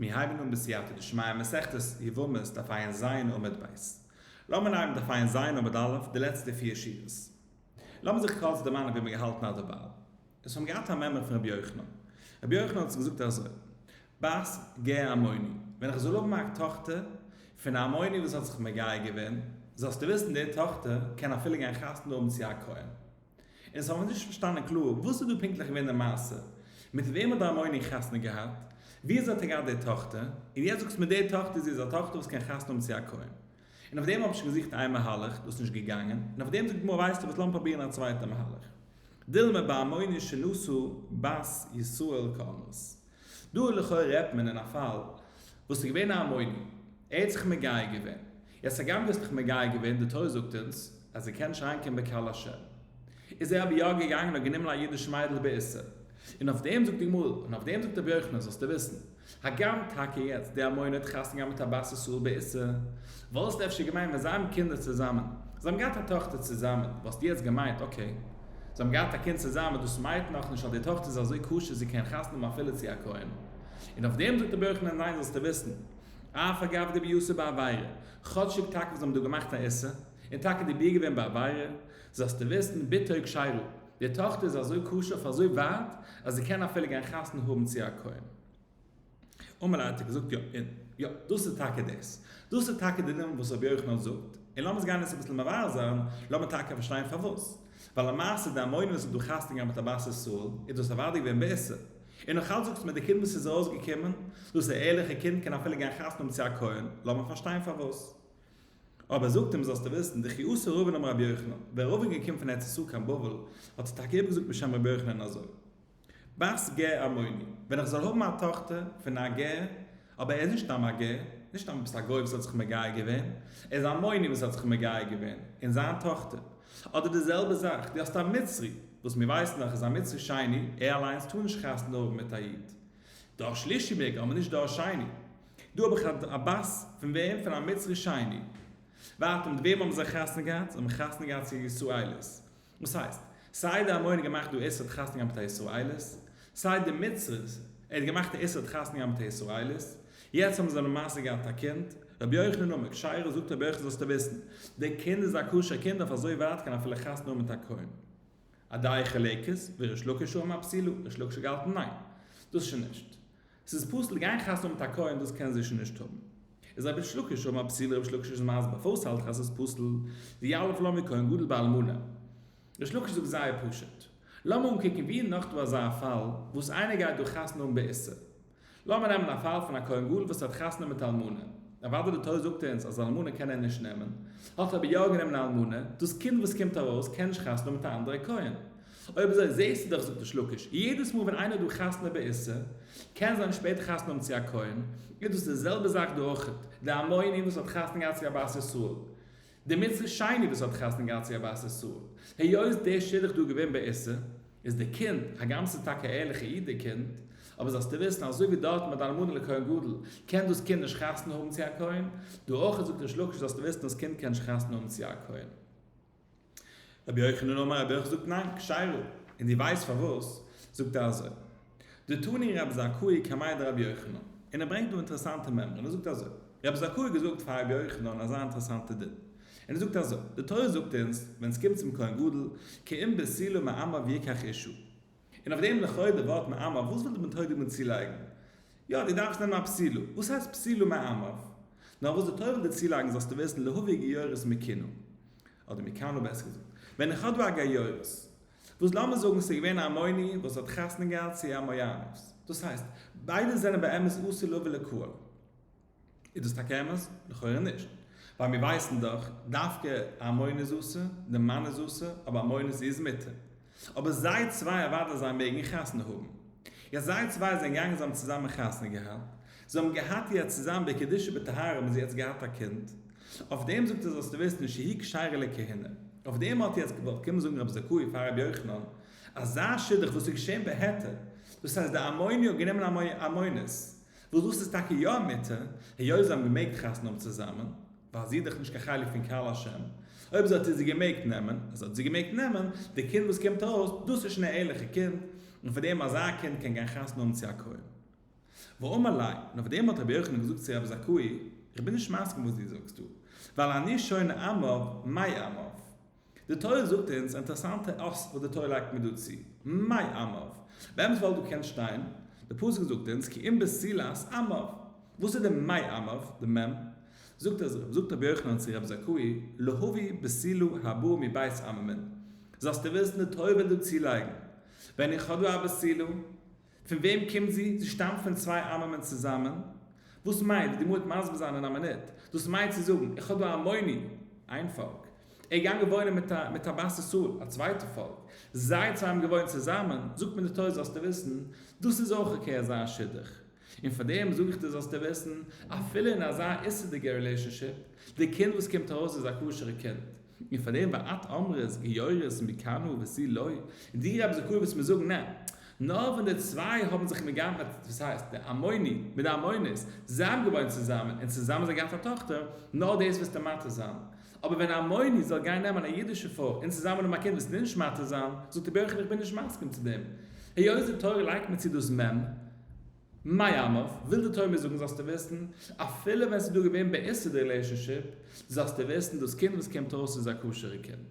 מיר הייבן אן בסייעתא דשמיא מסכת יבמות דף עיין ז עמוד ב'. לאמיר לייענען דף עיין ז עמוד א' די לעצטע פיר שורות. לאמיר זיך קורץ דערמאנען ווי מיר געהאלטן אדרבייל. עס האבן געהאט א מעמד פון רבי יוחנן. רבי יוחנן האט זיך געזאגט אזוי, בת גר עמוני, ווען איך זאל האבן א טאכטער פון א עמוני וואס האט זיך מגייר געווען, זאלסטו וויסן די טאכטער קען אפילו גיין חתונה האבן צו א כהן. און ס'האבן נישט פארשטאנען קלאר וואס איז דא פונקטליך געווען די מעשה, מיט וועם האט די המוני חתונה געהאט, ווי אזוי האט ער געהאט די טאכטער, און יעצט זאגסטו מיר די טאכטער זי איז א טאכטער וואס קען חתונה האבן צו א כהן. און אויף דעם האב איך שוין געזוכט איין מהלך, דאס איז נישט געגאנגען, און אויף דעם זאגט די גמרא ווייסטו וואס לאמיר פראבירן א צווייטע מהלך. דילמה בהמוני שנשאו בת ישראל כמות. דא לכאורה רעדט מען אין א פאל וואס ס'איז געווען א המוני, ער האט זיך מגייר געווען, יעצט הגם ביסט דיך מגייר געווען, די תורה זאגט אונז אז ער קען שיין קומען בקהל השם, איז ער אבער יא געגאנגען האט גענומען א אידיש מיידל באיסור, און אויף דעם זאגט די גמרא, און אויף דעם זאגט ר' יוחנן, זאלסטו וויסן, הגם טאקע יעצט די המון האט חתונה געהאט מיט א בת ישראל באיסור, וואלסט אפשר געמיינט ווען זיי האבן קינדער צוזאמען, זיי האבן געהאט א טאכטער צוזאמען, וואלסטו יעצט געמיינט אקעי, זיי האבן געהאט א קינד צוזאמען, דאס מיינט נאך נישט אז די טאכטער איז אזוי כשר זי קען חתונה האבן אפילו צו א כהן, און אויף דעם זאגט ר' יוחנן ניין זאלסטו וויסן, אה פארגאב די ביאסע בעבירה, כאטשיג טאקע זיי האבן דא געמאכט א איסור, און טאקע די ביר געווען בעבירה, זאלסטו וויסן בתוך שיירל, די טאכטער איז אזוי כשר אויף אזוי ווייט אז זי קען אפילו גיין חתונה האבן צו א כהן. אמאל האט ער געזאגט יא און יא, דאס איז טאקע דאס, דאס איז טאקע די נאמען וואס רבי יוחנן זאגט, און לאמיר עס גיין עס אביסל מבאר זיין, לאמיר טאקע פארשטיין פארוואס, ווייל למעשה די המון וואס איז דא חתונה געהאט מיט א בת ישראל איז דאס אוודאי געווען בעסער, און נאך אלץ זאגסטו מיר די קינד וואס איז ארויס געקומען דאס א ערליכע קינד קען אפילו גיין חתונה האבן צו א כהן, לאמיר פארשטיין פארוואס. אבער זאגט אים זאלסטו וויסן די חיותא ראובן אמר רבי יוחנן, ווען ראובן איז געקומען פון ארץ ישראל קיין בבל האט ער טאקע איבערגעזאגט בשם רבי יוחנן אזוי, בת גר עמוני, ווען איך זאל האבן א טאכטער פון א גר. אבער ער איז נישט א מגיה, נישט א מ'בסט א גוי וואס האט זיך מגיה געווען, ער איז א מוני וואס האט זיך מגיה געווען, און זיין טאכטער. אדער די זעלבע זאך, דו האסט א מצרי, וואס מיר ווייסן דאך איז א מצרי שני, ער אליינס טאר נישט חתונה האבן מיט א איד. דור שלישי מעג, אבער נישט דור שני. דא האב איך א בת פון וועם? פון א מצרי שני. ווייטער, מיט וועם האבן זיי חתונה געהאט? זיי האבן חתונה געהאט צו א ישראלית. וואס הייסט? סיי די אמורי האט געמאכט דו איסור התחתן גם בתר ישראלית, סיי די מצרית ער האט געמאכט א איסור התחתן גם בתר ישראלית, יעצט האבן זיי למעשה געהאט א קינד, רבי יוחנן אמר, כשיירא זאגט רבי יוחנן זאלסטו וויסן, די קינד איז א כשר קינד אויף אזוי ווייט קען אפילו חתונה האבן מיט א כהן. אודאי חלקית, וריש לקיש אמר פסילא, ריש לקיש האט געהאלטן ניין, דאס שוין נישט. ס'איז פסול גיין חתונה מיט א כהן דאס קען זי שוין נישט האבן. איז רביש לקיש האבן א פסולע רביש לקיש איז מסביר פארוואס האלט איך אז ס'איז פסול, ווי א' לא מכהן גדול באלמנה. רביש לקיש זאגט זייער פשוט. לאמיר אנקוקן ווי איז נאך דא אזא פאל וואס איינער גייט דא חתונה האבן באיסור. לאמיר נעמען א פאל פון א כהן גדול וואס האט חתונה מיט אלמנה. אוודאי די תורה זאגט אונז אז אלמנה קען ער נישט נעמען. האט ער אבער יא גענומען אלמנה. דאס קינד וואס קומט ארויס קען נישט חתונה האבן מיט א אנדערע כהן. אויב אזוי זעהסטו דאך זאגט דער שלאקיש יעדעס מאל ווען איינער דא חתונה בעיסה קען זיין שפעטער חתונה האבן צו א כהן איז דאס די זעלבע זאך דא אויכעט די המון עם וואס האט חתונה געהאט צו א בת ישראל די מצוה שני וואס האט חתונה געהאט צו א בת ישראל היות דער שידוך דא געווען בעיסה איז די קינד הגם ס'איז טאקע א ערליכע איד די קינד אבער זאלסטו וויסן אזוי ווי דארטן ביי די אלמנה לכהן גדול קען דאס קינד נישט חתונה האבן צו א כהן דא אויכעט זאגט דער שלאקיש זאלסטו וויסן דאס קינד קען נישט חתונה האבן צו א כהן. רבי יוחנן אמר רבי יוחנן זאגט ניין, כשיירא, און דו ווייסט פארוואס? זאגט ער אזוי, דתני רב זכאי קמאי דרבי יוחנן, און ער ברענגט דא אינטערעסאנטע מימרא, און ער זאגט אזוי, רב זכאי האט געזאגט פאר רבי יוחנן אזא אינטערעסאנטע דין, און ער זאגט אזוי, די תורה זאגט אונז ווען עס קומט צום כהן גדול, קיים בסילו מאמר ויקח אישו, און אויף דעם לכאורה די ווארט מעמיו, וואס וויל די מתורגמן דא צולייגן? יא, דו דארפסט נעמען א פסילו. וואס הייסט פסילו מעמיו? נאר וואס די תורה וויל דא צולייגן זאלסטו וויסן להביא גיורות מקינו, אדער מקאנא בעסער געזאגט. ווען איך האב דא א גיורות, וואס לאמיר זאגן ס'איז געווען א אמוני וואס האט חתונה געהאט צו א מויאנית, דאס הייסט, ביידע זענען באמת אסור להביא לקהל. איז דאס טאקע אמת? לכאורה נישט, ווייל מיר ווייסן דאך דווקא אז מוין איז אסור, די מן איז אסור, אבער מוין איז איז מותר. אבער זיי צוויי אוודאי זיי מעגן חתונה האבן. יעצט זיי צוויי זענען געגאנגען זיי האבן צוזאמען חתונה געהאט, זיי האבן געהאט יעצט צוזאמען בקדושה ובטהרה האבן זיי יעצט געהאט א קינד, אויף דעם זאגט ער זאלסטו וויסן שהיא כשרה לכהונה. אויף דעם האט יעצט געוואלט קומען זאגן רב זכאי פאר רבי יוחנן, אזא שידוך וואס איז געשען בהיתר, דאס הייסט די אמוני האט גענומען א מוין, וואס דאס איז טאקע יא א מיתה, היות זיי האבן געמעגט חתונה האבן צוזאמען, ווייל זי איז דאך נישט קיין חלק פון קהל השם, אויב זי האט איז זי געמעגט נעמען, אז האט זי געמעגט נעמען, די קינד וואס קומט ארויס, דאס איז שוין א ערליכע קינד, און פאר דעם אזא קינד קען גיין חתונה האבן צו א כהן. ואמר ליה, און אויף דעם האט רבי יוחנן געזאגט צו רבי זכאי, איך בין נישט מסכים וואס דו זאגסט דא, ווייל אני שונא עמיו, מאי עמיו? די תורה זאגט אונז אינטערעסאנטע אס וואס די תורה לייגט מיר דא צו. מאי עמוו? באמת וואלט דא געקענט שטיין, די פסוק זאגט אונז כי אם בסילת עמוו. וואס איז די מאי עמוו, די מ'? זאגט אז רב זאגט רבי יוחנן צו רבי זכאי, להביא בסילו הבא מבית עממין. זאלסטו וויסן די תורה וויל דא צולייגן, ווען איך האב דא א בסילו, פון וועם קומט זי? זי שטאמט פון צוויי ארמעמענט צוזאמען? וואס מיינט די מועט מסביר זיין אין א מינוט? דאס מיינט צו זאגן איך האב דא א מוני, איין פאלק, ער איז געגאנגען וואוינען מיט א מיט א בת ישראל, א צווייטע פאלק, זיי צוויי האבן געוואוינט צוזאמען, זאגט מיר די תורה זאלסטו וויסן, דאס איז אויך אקעי אזא שידוך, און פאר דעם זאג איך דיר זאלסטו וויסן, אפילו אין אזא איסור'דיגע רילעישאנשיפ, די קינד וואס קומט ארויס איז א כשר'ע קינד. און פאר דעם ואת אמרת גיורת מקנא וסי לא, און די רבי זכור וועסט מיר זאגן נע, נאר ווען די צוויי האבן זיך מגנב א, דאס הייסט די אמוני מיט די אמונית זיין געוואוין צוזאמען און צוזאמען זיי געהאט א טאכטער, נאר דאס וועסטו מתיר זיין, אבער ווען א אמוני זאל גיין נעמען א אידישע פרוי און צוזאמען האבן א קינד וועסטו נישט מתיר זיין, זאגט רבי יוחנן איך בין נישט מסכים צו דעם, היות די תורה לייגט מיר צו דאס מ. מאי עמא, וויל די תורה מיר זאגן זאלסטו וויסן, אפילו ווען ס'איז דא געווען בעיסד רילעישאנשיפ, זאלסטו וויסן דאס קינד וואס קומט אויס איז א כשר'ע קינד.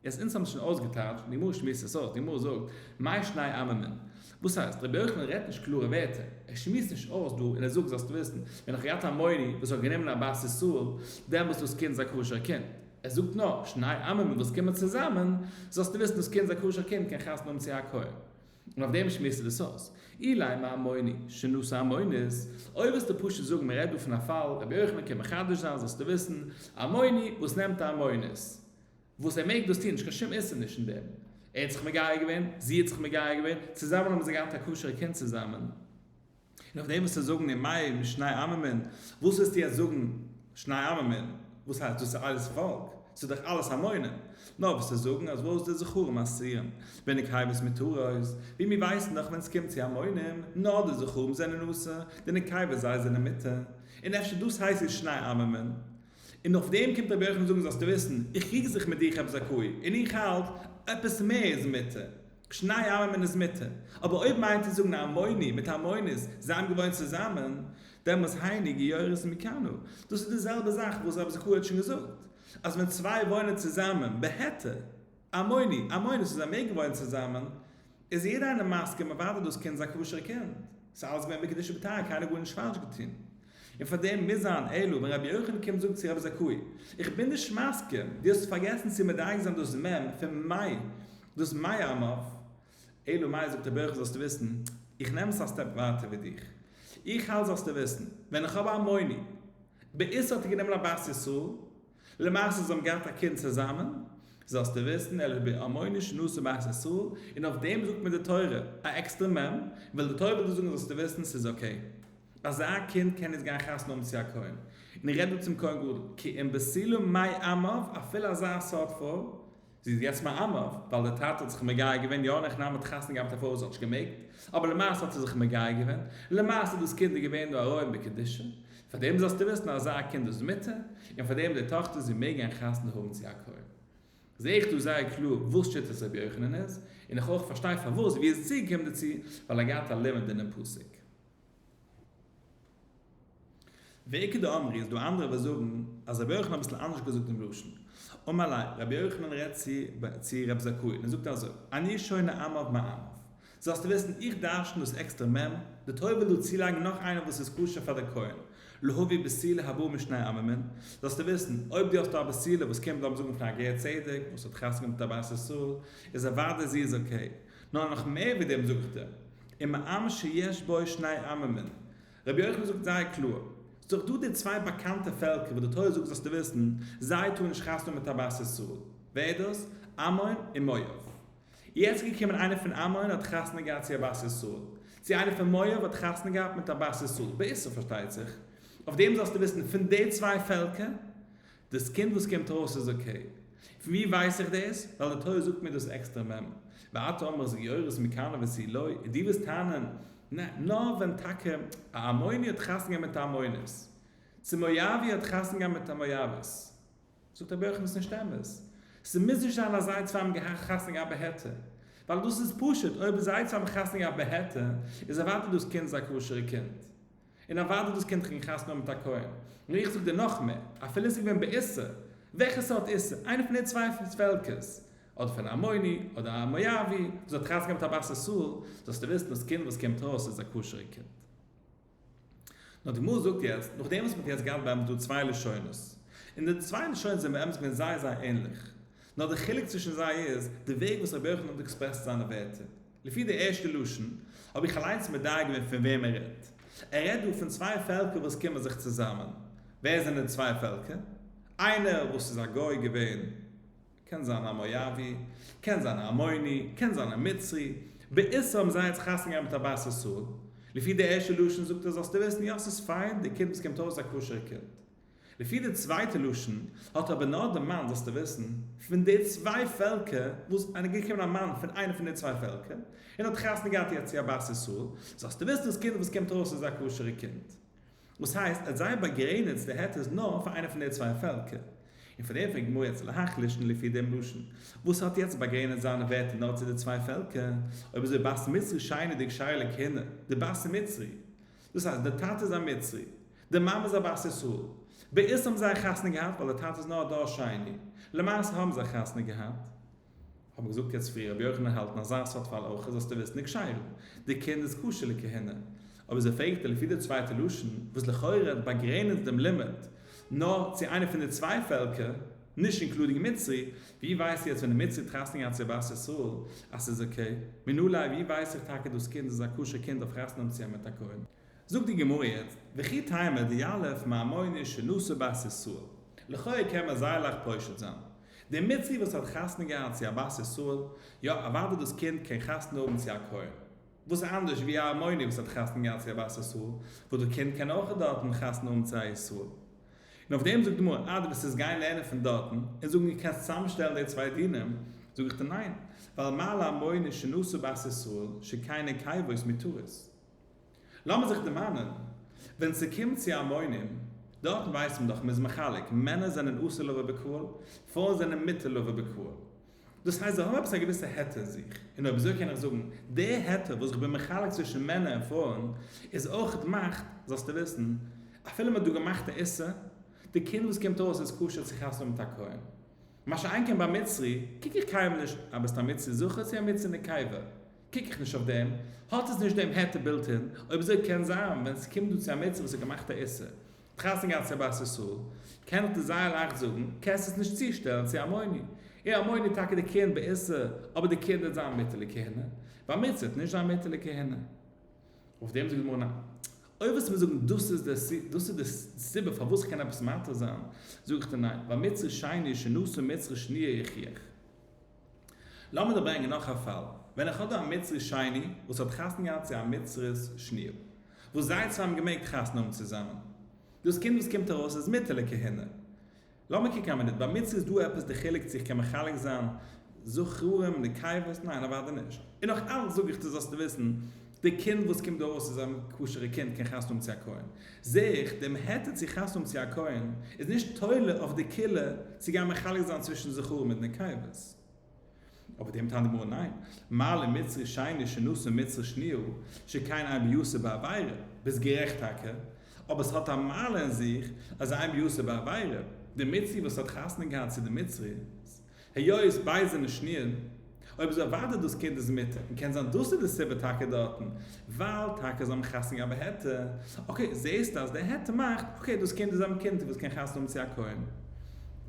יעצט אונז האבן עס שוין אויסגעטייטשט און די גמרא שמועסט עס אויס, די גמרא זאגט מאי שניי עממין. וואס הייסט? רבי יוחנן רעדט נישט קלארע ווערטער, ער שמועסט נישט אויס דא און ער זאגט זאלסטו וויסן, ווען איך האב געהאט א מוני וואס האט גענומען א בת ישראל, דעמאלס דאס קינד איז א כשר'ע קינד. ער זאגט נאר, שניי עממין וואס קומען צוזאמען, זאלסטו וויסן דאס קינד איז א כשר'ע קינד קען חתונה האבן צו א כהן. און אויף דעם שמועסט ער עס אויס. אילאי מה אמוני, שנאת האמונית, אויב וועסטו פשוט זאגן מען רעדט דא פון א פאל, רבי יוחנן קען מחדש זיין זאלסטו וויסן, א אמוני וואס נעמט א אמונית, וואס ער מעג דאס טון, נישט קיין שום איסור נישט אין דעם, ער האט זיך מגייר געווען, זי האט זיך מגייר געווען, צוזאמען האבן זיי געהאט א כשר'ע קינד צוזאמען, נאך דעם וועסטו זאגן אין מאי משני עממין, וואס וועסטו יעצט זאגן שני עממין, וואס הייסט דאס איז אלעס פאלק, עס איז דאך אלעס המונים, נאר וועסטו זאגן אז וואס די זכרים אסרין וויניג היי וואס מתורות, ווי מיר ווייסן דאך ווען עס קומט צו המונים נאר די זכרים זענען אסור, די נקבות זיי זענען מותר, און אפשר דאס הייסט איז שני עממין, און אויף דעם קומט רבי יוחנן זאגן זאלסטו וויסן איך קריג זיך מיט דיך עפעס א קוה, און איך האלט עפעס מער איז מותר. שני העמים אין דאס מיטע. אבער אויב מיינט איר זאגן המוני מיט המונית, זיי האבן געוואוינט צוזאמען, דעמאלס היינו גיורת מכנו. דאס איז די זעלבע זאך וואס רבי זכרי' האט שוין געזאגט, אז ווען צוויי וואוינען צוזאמען בהיתר, המוני, המונית, און זיי מעגן וואוינען צוזאמען, איז יעדער איינער מסכים מווארט אויף דאס קינד, ס'איז א כשר'ע קינד, ס'איז אלעס געווען בקדושה בטהרה, קיינער האט גארנישט פאלש געטון. און פאר דעם מוז זיין אלא ווען רבי יוחנן קומט זאגט צו רבי זכאי, איך בין נישט מסכים, דו האסט פארגעסן צו מדייק זיין דאס מ' פון מאי, דאס מאי אמר, אלא מאי זאגט רבי יוחנן זאלסטו וויסן, איך נעם עס א סטעפ ווייטער ווי דיך, איך האלט זאלסטו וויסן, ווען איך האב א מוני, באיסור האט ער גענומען א בת ישראל, למעשה זיי האבן געהאט א קינד צוזאמען, זאלסטו וויסן, אלה בעמוני שנאסו בית ישראל, און אויף דעם זאגט מיר די תורה, א עקסטער מ', וויל די תורה וויל דיר זאגן זאלסטו וויסן ס'איז אקעי. אזא קינד קען יעצט גיין חתונה האבן צו א כהן. און איך רעד דא צום כהן גדול, כי אם בסלו מאי עמיו, אפילו אזא סארט פרוי, זי איז יעצט מאמע ווייל די טאטע האט זיך מגיה געווען, יא אין הכנעה מיט חתונה געהאט אפאר וואס האט נישט געמעגט, אבער למעשה האט זי זיך מגיה געווען, למעשה דאס קינד איז געווען דא ארעם בקדושה, פאר דעם זאלסטו וויסן אז אזא קינד איז מותר, און פאר דעם די טאכטער זי מעג גיין חתונה האבן צו א כהן. זעה איך דא זייער קלאר וואס שיטת רבי יוחנן איז, און איך אויך פארשטיי פארוואס ווי עס איז צוגעקומען דערצו, ווייל ער געהאט א לימוד אינעם פסוק. ועיקר דאמרי איז דא אנדערע וואס זאגן אז רבי יוחנן האט אביסל אנדערש געזאגט דעם לשון. אמאלי', רבי יוחנן רעדט צו רבי זכאי און ער זאגט אזוי, אני שונה עמיו מעמיו. זאלסטו וויסן, איך דרשן דאס עקסטער מ', די תורה וויל דא צולייגן נאך איינער וואס איז כשר פאר דער כהן, להביא בסילה הבאה משני עמימין, זאלסטו וויסן, אויב דו האסט דא א בסילה וואס קומט לאמיר זאגן פון א גר צדק וואס האט חתונה מיט א בת ישראל, איז אוודאי זי איז אקעי, נאר נאך מער ווי דעם זאגט ער, אין מאמר שיש בו שני עממין, רבי יוחנן זאגט זייער קלאר, ס'איז דאך דא די צוויי באקאנטע פעלקער וואס די תורה זאגט זאלסטו וויסן, זיי טארן נישט חתונה מיט א בת ישראל, ווער איז דאס? עמון און מואב. יעצט איז געקומען איינער פון עמון האט חתונה געהאט צו א בת ישראל, צו איינער פון מואב האט חתונה געהאט מיט א בת ישראל, בעשו פארשטייט זיך, אויף דעם זאלסטו וויסן, פון די צוויי פעלקער, דאס קינד וואס קומט ארויס איז אקעי. פון וואו ווייס איך דאס? ווייל די תורה זאגט מיר דאס עקסטער מ מ, ואתה אומר אז גיורת מכנה וסי לא, און דו וועסט טענה'ן, נע, נאר ווען טאקע א עמוני האט חתונה געהאט מיט א עמונית, צו מואבי האט חתונה געהאט מיט א מואבית. זאגט רבי יוחנן, עס איז נישט אמת. ס'מוז נישט זיין אז זיי צוויי האבן געהאט חתונה געהאט בהעתק. ווייל דאס איז פשוט, אויב זיי צוויי האבן חתונה געהאט בהעתק, איז אוודאי דאס קינד איז א כשר'ע קינד. און אוודאי דאס קינד קען חתונה האבן מיט א כהן. נאר איך זאג דיר נאך מער, אפילו עס איז געווען באיסור, וועלכע סארט איסור? איינער פון די צוויי פעלקערס, אדער פון א עמוני, אדער א מואבי, וואס האט חתונה געהאט מיט א בת ישראל, זאלסטו וויסן דאס קינד וואס קומט ארויס איז א כשר'ע קינד. נאר די גמרא זאגט יעצט, נאכדעם וואס מען האט יעצט געהאט באמת דא צוויי לשונות, און די צוויי לשונות זענען באמת געווען זייער זייער ענליך, נאר די חילוק צווישן זיי איז די וועג וואס רבי יוחנן האט עקספרעסט זיינע ווערטער. לפי די ערשטע לשון, האב איך אליינס מדייק געווען פון וועם ער רעדט. ער רעדט דא פון צוויי פעלקער וואס קומען זיך צוזאמען. ווער זענען די צוויי פעלקער? איינער וואס איז א גוי געווען, קען זיין א מואבי, קען זיין א עמוני, קען זיין א מצרי, באיסור האבן זיי יעצט חתונה געהאט מיט א בת ישראל. לפי די ערשטע לשון זאגט ער זאלסטו וויסן, יא ס'איז פיין, די קינד וואס קומט אויס איז א כשר'ע קינד. לפי די צווייטע לשון האט אבער נאר די מאן, זאלסטו וויסן, פון די צוויי פעלקער וואס איז געקומען א מאן פון איינע פון די צוויי פעלקער און האט חתונה געהאט איר צו א בת ישראל, זאלסטו וויסן דאס קינד וואס קומט ארויס איז א כשר'ע קינד. דאס הייסט אז זיי באגרעניצט די היתר נאר פאר איינע פון די צוויי פעלקער. און פון דעם פרעגט די גמרא יעצט להחליש און לפי דעם לשון וואס האט יעצט באגרעניצט זיינע ווערטער נאר צו די צוויי פעלקער, אויב איז די בת מצרי שיינער די כשר'ע קינד, די בת מצרי דאס הייסט דער טאטע איז א מצרי, די מאמע איז א בת ישראל, בעיסד האבן זיי חתונה געהאט ווייל דער טאטע איז נאר א דור שני, למעשה האבן זיי חתונה געהאט, האט מען געזאגט יעצט פריער רבי יוחנן האלט אין אזא סארט פאל אויך זאלסטו וויסן ניק שיירין, די קינד איז כשר לכהונה, אבער זי פרעגט אים לפי די צווייטע לשון וואס לכאורה האט באגרעניצט דעם לימוד נאר צו איינע פון די צוויי פעלקער, נישט אינקלודינג מצרי, ווי ווייסטו יעצט ווען די מצרי טראסטן גאנץ אהבת ישראל אז ס'איז אקעי? מן אולי ווי ווייס איך טאקע דאס קינד איז א כשר קינד אויף חתונה צו האבן מיט א כהן? זאגט די גמרא יעצט, וכי תימא דיעלף מעמוני שנשא בת ישראל, לכאו' קען מען זייער לייכט פושט זיין, די מצרי וואס האט חתונה געהאט צו אהבת ישראל, יא אוודאי דאס קינד קען חתונה האבן צו א כהן, וואס איז אנדערש ווי א עמוני וואס האט חתונה געהאט צו אהבת ישראל, וואס די קינד קען אויך דארטן חתונה האבן צו א ישראל. און אויף דעם זאגט די גמרא, אדער וועסטו עס גיין לערנען פון דארטן, און זאגן איך קען צוזאמשטעלן די צוויי דינים, זאג איך דיר ניין, ווייל מה לאמוני שנשא בית ישראל שכינה קייוואוס מתורות. לאמיר זיך דערמאנען, ווען ס'קומט צו א מונים, דארטן ווייסט מען דאך, מ'איז מחלק, מענער זענען אסור לו ובקהל, פרויען זענען מותר לו ובקהל. דאס הייסט זיי האבן עפעס א געוויסע היתר אין זיך, און אויב אזוי קען איך זאגן, די היתר וואס איך בין מחלק צווישן מענער און פרויען איז אויכעט מאכט, זאלסטו וויסן, אפילו מ'האט דא געמאכט א איסור, די קינד וואס קומט ארויס איז כשר צו חתונה מיט א כהן. מה שאין כן ביי מצרי, קוק איך קיינמאל נישט אז ביסט א מצרי זכר צו א מצרי נקבה, קוק איך נישט אויף דעם, האט עס נישט דעם היתר בילט-אין, אויב אזוי קען זיין ווען ס'קומט דא צו א מצרי וואס האט געמאכט א איסור, חתן געהאט צו בת ישראל, קענט איר זייער לייכט זאגן, קענסט עס נישט צושטעלן צו א מונה. און א מונה איז טאקע די קרן בעיסה, אבער די קרן וועט זיין מיטעלע כהונה, באמיצער וועט נישט זיין מיטעלע כהונה. אויף דעם זאגט די גמרא, ניין. אויב וועסטו מיר זאגן דאס איז די סיבה, דאס איז די סיבה פארוואס איך קען עפעס מותר זיין, זאג איך דיר ניין, באמיצער שני שנשא מיצר שניה יחיח. לאמיר דיר ברענגען נאך א פאל. ווען איך האב דא א מצרי שני וואס האט חתונה געהאט צו א מצרית שניר, וואס זיי צוויי האבן געמעגט חתונה האבן צוזאמען. דאס קינד וואס קומט ארויס איז מותר לכהונה. לאמיר קוקן א מינוט, ביי מצרי איז דא עפעס די חילוק צו איך קען מחלק זיין זכרים, נקבות? ניין אוודאי נישט. און נאך אלץ זאג איך דיר זאלסטו וויסן, די קינד וואס קומט דא ארויס איז א כשר'ע קינד קען חתונה האבן צו א כהן. זיך דעם היתר צו חתונה האבן צו א כהן איז נישט תולה אויף די כלה צו גיין מחלק זיין צווישן זכרים מיט נקבות. אויף דעם טענה'ט די גמרא ניין, מעלה מצרי שני שנשא מצרי שניהו שכן עיין ביוסף בעבירה, ביסט גערעכט טאקע, אבער ס'האט א מעלה אין זיך אז עיין ביוסף בעבירה, די מצרי וואס האט חתונה געהאט צו די מצרי, היות ביידע זענען שנירן, אויב איז אוודאי דאס קינד איז מוטער, און קען זיין דאס איז די סיבה טאקע דארטן, ווייל טאקע זיי האבן חתונה געהאט בהעתק, אקעי, זעהסטו אז די העתק מאכט, אקעי, דאס קינד איז א מקימתא וואס קען חתונה האבן צו א כהן.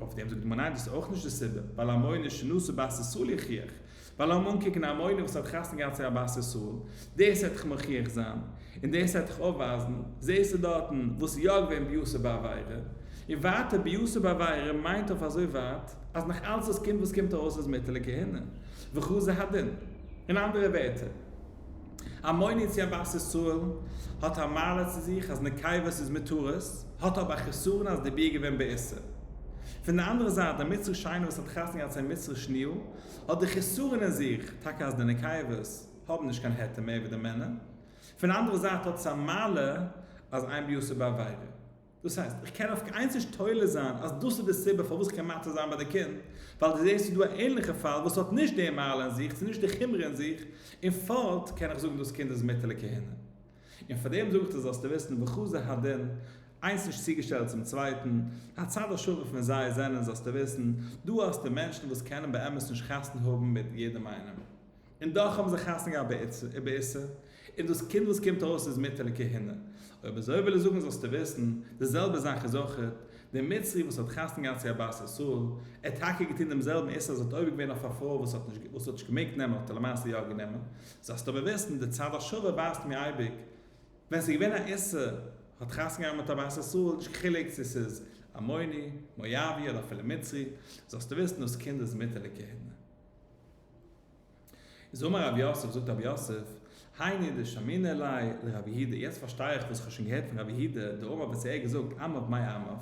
אויף דעם זאגט די גמרא ניין דאס איז אויך נישט די סיבה, ווייל המונין שנשא בת ישראל יוכיח, ווייל לאמיר אנקוקן א מוהל וואס האט חתונה געהאט צו א בת ישראל, דאס העט איך מוכיח זיין, און דאס העט איך אויפווייזן, זעסטו דארטן וואס איז יא געווען ביעסר בעבירה, און ווייטער ביעסר בעבירה מיינט אויף אזוי ווייט אז נאך אלץ דאס קינד וואס קומט ארויס איז מותר לכהונה, וכו' זה הדין. אין אנדערע ווערטער, א מוהל צו א בת ישראל האט א מעלה צו זיך אז נקבות איז מותרות, האט אבער א חסרון אז די ביה איז געווען בעיסר. פון די אנדערע זייט די מצרי שיינע וואס האט חתונה געהאט צו א מצרי שניאל, האט די חסרון אין זיך טאקע אז די נקייבות האבן נישט קיין היתר מער ווי די מענער, פון די אנדערע זייט האט עס א מעלה אז איין ביאות איז בעבירה. דאס הייסט, איך קען אויף קיין איינס נישט תולה זיין אז דאס איז די סיבה פארוואס איך קען מטעה זיין ביי די קינד, ווייל דו זעסט ס'איז דא א ענליכע פאל וואס האט נישט די מעלה אין זיך, ס'איז נישט די חומרא אין זיך, און פארט קען איך זאגן דאס קינד איז מיתה לכהנה. און פאר דעם זאג איך דיר זאלסטו וויסן בחוזי הדין, איינס נישט צוגעשטעלט צום צווייטן, הצד השווה פון זיי זענען, זאלסטו וויסן, דא האסטו מענטשן וואס קענען באמת נישט חתונה האבן מיט יעדעם איינעם, און דאך האבן זיי חתונה געהאט באיסור, און דאס קינד וואס קומט ארויס איז מותר לכהונה. אויב אזוי וויל איך זאגן זאלסטו וויסן, די זעלבע זאך איז אויך מיט דעם מצרי וואס האט חתונה געהאט צו א בת ישראל, ער האט טאקע געטון דעם זעלבן איסור אז ער האט עובר געווען אויף א פרוי וואס האט נישט געמעגט נעמען האט ער למעשה יא גענומען, זאלסט אבער וויסן, די צד השווה ווייזט מיר אייביג, ווען ס'איז געווען א איסור, האט חתונה געהאט מיט א בית ישראל, נישט קיין חילוק צו ס'איז עמוני, מואבי, אדער אפילו מצרי, זאלסטו וויסן, דאס קינד איז מוטערדיגע הינער. איז אמר רב יוסף, זאגט רב יוסף, הייני דשמינא ליה לרב יהודה, יעצט פארשטיי איך וואס כ'האב שוין געהערט פון רב יהודה, דאמר וואס ער האט געזאגט, עמיו מאי עמיו,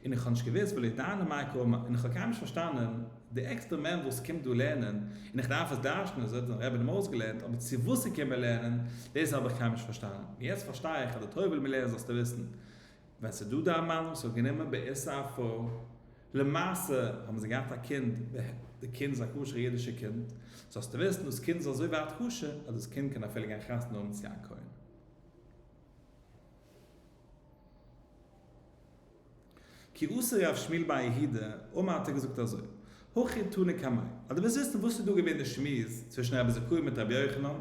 און איך האב נישט געוויסט וועלעכע דיינער מיין קאר מיינט, און איך האב קיינמאל נישט פארשטאנען די עקסטער מען וואס קומט דא לערנען, און איך דארף עס דרש'נען אזוי האט אונז רבי אים אויסגעלערנט, אבער צו וואס איך קום מיר לערנען, דאס האב איך קיינמאל נישט פארשטאנען, און יעצט פארשטיי איך אז די תורה וויל מיר לערנען זאלסטו וויסן, ווען ס'איז דא דיין מאן וואס האט גענומען בעיסה א פרוי, למעשה האבן זיי געהאט א קינד ב ה, די קינד איז א כשר'ע אידישע קינד, זאלסטו וויסן דאס קינד איז אזוי ווייט כשר אז דאס קינד קען אפילו גיין חתונה האבן צו א כהן. כעוס ר' שמואל ביי יהודה, און מען האט איר געזאגט אזוי, הכי תני קמיה, אז דו ווילסט וויסן וואס איז דא געווען די שמועס צווישן רבי זכאי מיט רבי יוחנן,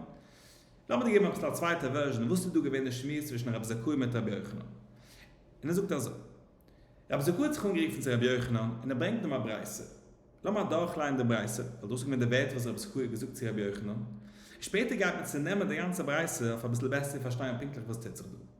לאמיר דיר געבן עפעס א צווייטע ווערזשען וואס איז דא געווען די שמועס צווישן רבי זכאי מיט רבי יוחנן, און ער זאגט אזוי, רבי זכאי האט זיך אנגערופן צו רבי יוחנן און ער ברענגט אים א ברייתא, לאמיר אדורכליינען די ברייתא, ווייל דאס איז געווען די ווערטער וואס רבי זכאי האט געזאגט צו רבי יוחנן, און שפעטער גייט מען צונעמען די גאנצע ברייתא אויף אביסל בעסער צו פארשטיין פונקטליך וואס טוט זיך דא.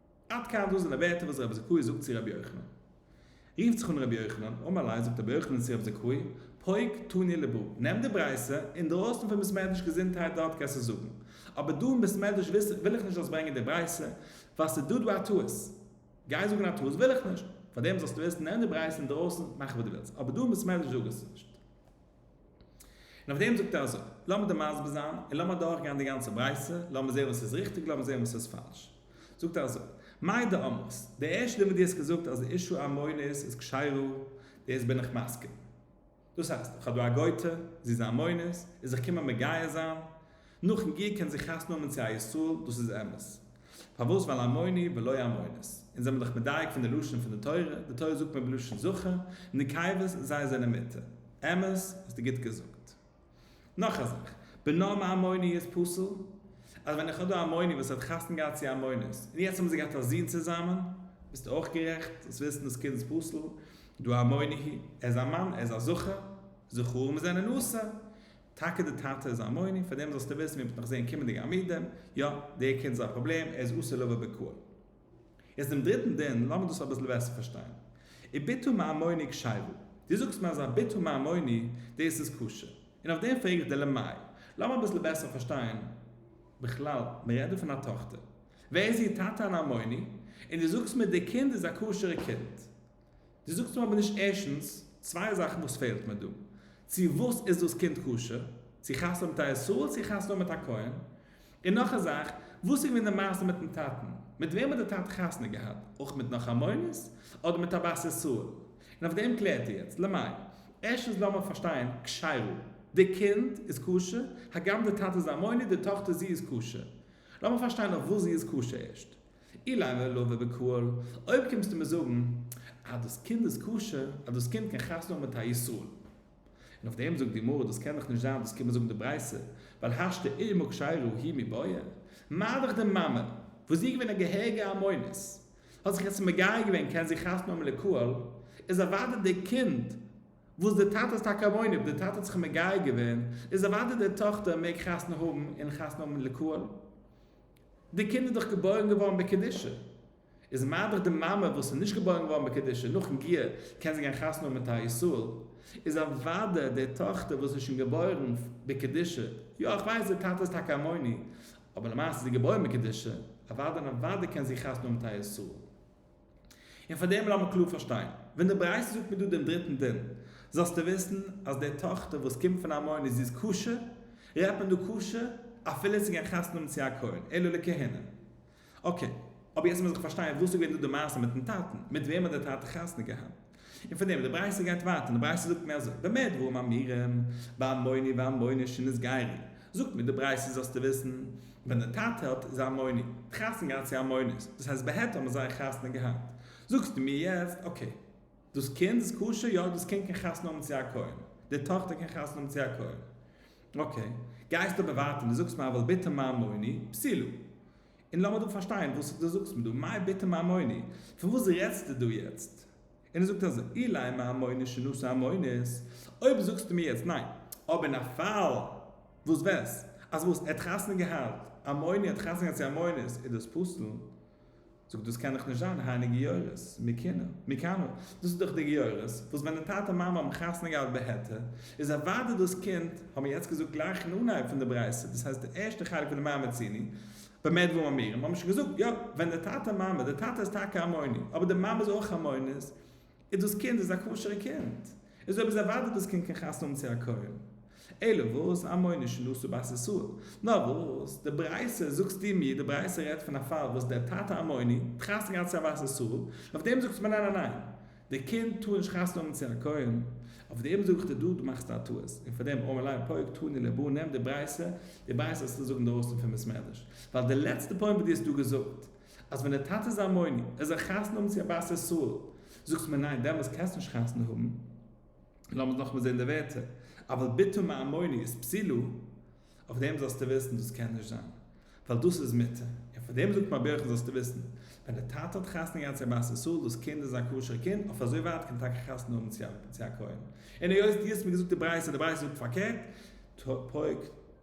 עד כאן דאס זענען ווערטער וואס רבי זכאי זאגט צו רבי יוחנן. רופט זיך אן רבי יוחנן, אמר ליה, זאגט רבי יוחנן צו רבי זכאי, פוק תניא לב, נעם די ברייתא, אינדרויסן פון בית מדרש געזונטהייט דארט קענסט עס זאגן, אבער דא אין בית מדרש וויל איך נישט זאלסט ברענגען די ברייתא, ווייל ס'איז דא דא א טעות. גיי זאגן א טעות וויל איך נישט, פארדעם זאלסטו עס, נעם די ברייתא אינדרויסן, מאך וואס דו ווילסט, אבער דא אין בית מדרש זאג עס נישט. און אויף דעם זאגט ער אזוי, לאמיר דא מסביר זיין, און לאמיר אדורך גיין די גאנצע ברייתא, לאמיר זעהן וואס איז ריכטיג, לאמיר זעהן וואס איז פאלש. זאגט ער אזוי, מאי דאמרת, די ערשטע דבר די האסט געזאגט אז אישו א מונית איז כשרו, דאס בין איך מסכים. דאס הייסט, איך האב דא א גויטע, זי איז א מונית, איז איך קומען מגייר זיין, נאכן גור קען זיך חתונה האבן צו א ישראל, דאס איז אמת. פארוואס ווייל אלמוני ולא אלמונית. אונז זעמיר דאך מדייק פון די לשון פון די תורה, די תורה זאגט מען בלשון זכר, נקייבות זיי זענען מיתה. אמת, האסטו גוט געזאגט. נאך א זאך, בנו מאלמוני איז פסול? אז ווען איך האב דא א אלמוני וואס האט חתונה געהאט צו א אלמונית, און יעצט האבן זיי געהאט א זון צוזאמען, ביסטו אויך גערעכט, זאלסט וויסן דאס קינד איז פסול, דא אלמוני היא, ער איז א מאן, ער איז א זכר, זכרים זענען אסור. טאקע די טאטע איז א מוני, פאר דעם זאלסטו וויסן, מ'וועט נאך זעהן קומענדיגע עמודים, יא, דער קינד איז א פראבלעם, ער איז אסור לבוא בקהל. איז דעם דריטן דין, לאמיר דאס אביסל בעסער פארשטיין. וביתו מהמוני קשייוו, דו זאגסט מיר אז א ביתו מהמוני, דאס איז כשר, און אויף דעם פרעג איך דיר למאי? לאמיר אביסל בעסער פארשטיין, בכלל, מ'רעדט דא פון א טאכטער, ווער איז איר טאטע אן א מוני, און דו זאגסט מיר דער קינד איז א כשר'ע קינד. דו זאגסט מיר אבער נישט ערשטנס צוויי זאכן וואס פעלט מיר דא, צו וואס איז דאס קינד כשר, צו חתונה האבן מיט א ישראל צו חתונה האבן מיט א כהן, און נאך א זאך, וואס איז געווען די מעשה מיטן טאטן, מיט וועם האט די טאטע חתונה געהאט, אויך מיט נאך א מונית, אדער מיט א בת ישראל? און אויף דעם קלערט איר יעצט, למאי? ערשטנס לאמיר פארשטיין כשרו, די קינד איז כשר, הגם די טאטע איז א מונית, די טאכטער זי איז כשר, לאמיר פארשטיין אויף וואס זי איז כשר ערשט, אילן ולא ובקהל, אויב קומסטו מיר זאגן אז דאס קינד איז כשר, אז דאס קינד קען חתונה האבן מיט א ישראל, און אויף דעם זאגט די גמרא דאס קען דאך נישט זיין, דאס קען מען זאגן די ברייתא, ווייל השתא אימה כשרה היא מבעיה, מה דאך די מאמע, וואס זי איז געווען א געהעריגע המונית, האט זיך יעצט מגייר געווען, קען זי חתונה האבן לקהל, איז אוודאי דער קינד, וואס דער טאטע איז טאקע א מונית, אויב דער טאטע האט זיך מגייר געווען, איז אוודאי דער טאכטער מעג חתונה האבן און חתונה האבן לקהל. די קינד איז דאך געבוירן געווארן בקדושה, איז מאדער די מאמע וואס איז נישט געבוירן געווארן בקדושה, נאכן גיור קען זי גיין חתונה האבן מיט א ישראל, איז אוודאי די טאכטער וואס איז שוין געבוירן בקדושה, יא איך ווייס די טאטע איז טאקע א מוני, אבער למעשה איז זי געבוירן בקדושה, אוודאי און אוודאי קען זי חתונה האבן מיט א ישראל. און פאר דעם לאמיר קלאר פארשטיין, ווען די ברייתא זאגט מיר דא דעם דריטן דין, זאלסטו וויסן אז די טאכטער וואס קומט פון א מונה זי איז כשר, רעדט מען דא כשר אפילו צו גיין חתונה האבן צו א כהן, אלא לכהונה. אקעי, אבער יעצט מוז איך פארשטיין, וואס איז געווען דא די מעשה מיטן טאטן? מיט וועם האט דער טאטע חתונה געהאט? און פון דעם די ברייתא גייט ווייטער און די ברייתא זאגט מער אזוי במה דברים אמורים באמוני ואמוני שנות גרי זאגט מיר די ברייתא זאלסטו וויסן ווען די טאטע האט איז א אמוני האט חתונה געהאט צו א אמונית דאס הייסט ב ה האבן זיי חתונה געהאט זאגסטו מיר יעצט אקעי דאס קינד איז כשר יא דאס קינד קען חתונה האבן צו א כהן די טאכטער קען חתונה האבן צו א כהן אקעי גייסט אבער ווייטער און די זאגסט מיר אבל בתו מאמוני פסילא און לאמיר דא פארשטיין וואס דו זאגסט מיר דא, מאי ביתא מהמוני, פון וואס רעדסטו דא יעצט? און ער זאגט אזוי, אילאי מהמוני שנשא המונית, אויב זאגסטו מיר יעצט ניין, אבער אין א פאל וואס וואס, אז וואס, ער האט חתונה געהאט, א מוני האט חתונה געהאט צו א מונית, איז דאס פסול? זאגט דאס קען דאך נישט זיין, היינו גיורות, מי קנה, מי קנה, דאס איז דאך די גיורות, וואס ווען די טאטע מאמע האבן חתונה געהאט בהיתר, איז אוודאי דאס קינד, האבן מיר יעצט געזאגט גלייך אין אנהייב פון די ברייתא, דאס הייסט די ערשטע חלק פון די מאי מציני, באמת וואו האמיר אים האמיר שוין געזאגט יא ווען די טאטע מאמע די טאטע איז טאקע א מונה אבער די מאמע איז אויך א מונה איז דאס קינד איז א כשר'ע קינד איז אויב איז ערווארטעט דאס קינד קען חתונה האבן צו א כהן אלא וואס א מונה שנשא בת ישראל נאר וואס די ברייתא זאגסטו מיר די ברייתא רעדט פון א פאל וואס דער טאטע א מונה האט חתונה געהאט צו א בת ישראל אויף דעם זאגסטו מיר ניין ניין ניין די קינד טאר נישט חתונה האבן צו א כהן, אויף דעם זאג איך דיר דא, דו מאכסט א טעות, און פאר דעם אמר ליה פוק תני לבו, נעם די ברייתא, די ברייתא האסטו זאגן אינדרויסן פון בית מדרש, ווייל די לעצטע פוינט וואס דו האסט דא געזאגט, אז ווען די טאטע איז א מונע, ער זאל חתונה האבן צו א בת ישראל, זאגסטו מיר ניין דעמאלס קענסטו נישט חתונה האבן, לאמיר נאכאמאל זען די ווערטער, אבל בתו מעמוני איז פסילה, אויף דעם זאלסטו וויסן דאס קען נישט זיין ווייל דאס איז מותר, און פון דעם זאגט מען אויף ברכו זאלסטו וויסן ווען די טאטע האט חתונה געהאט צו א בת ישראל דאס קינד איז א כשר'ע קינד אויף אזוי ווייט קען טאקע חתונה האבן צו א כהן און היות דו האסט מיר געזאגט די ברייתא די ברייתא זאגט פארקערט פרק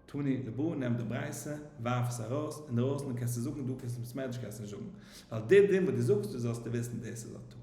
תענית לבו נעם די ברייתא ווארף עס ארויס אינדערויסן קענסטו זאגן דא קענסטו מסתמא נישט קענסט נישט זאגן ווייל די דין וואס דו זאגסט דאס זאלסטו וויסן דאס איז א טעות.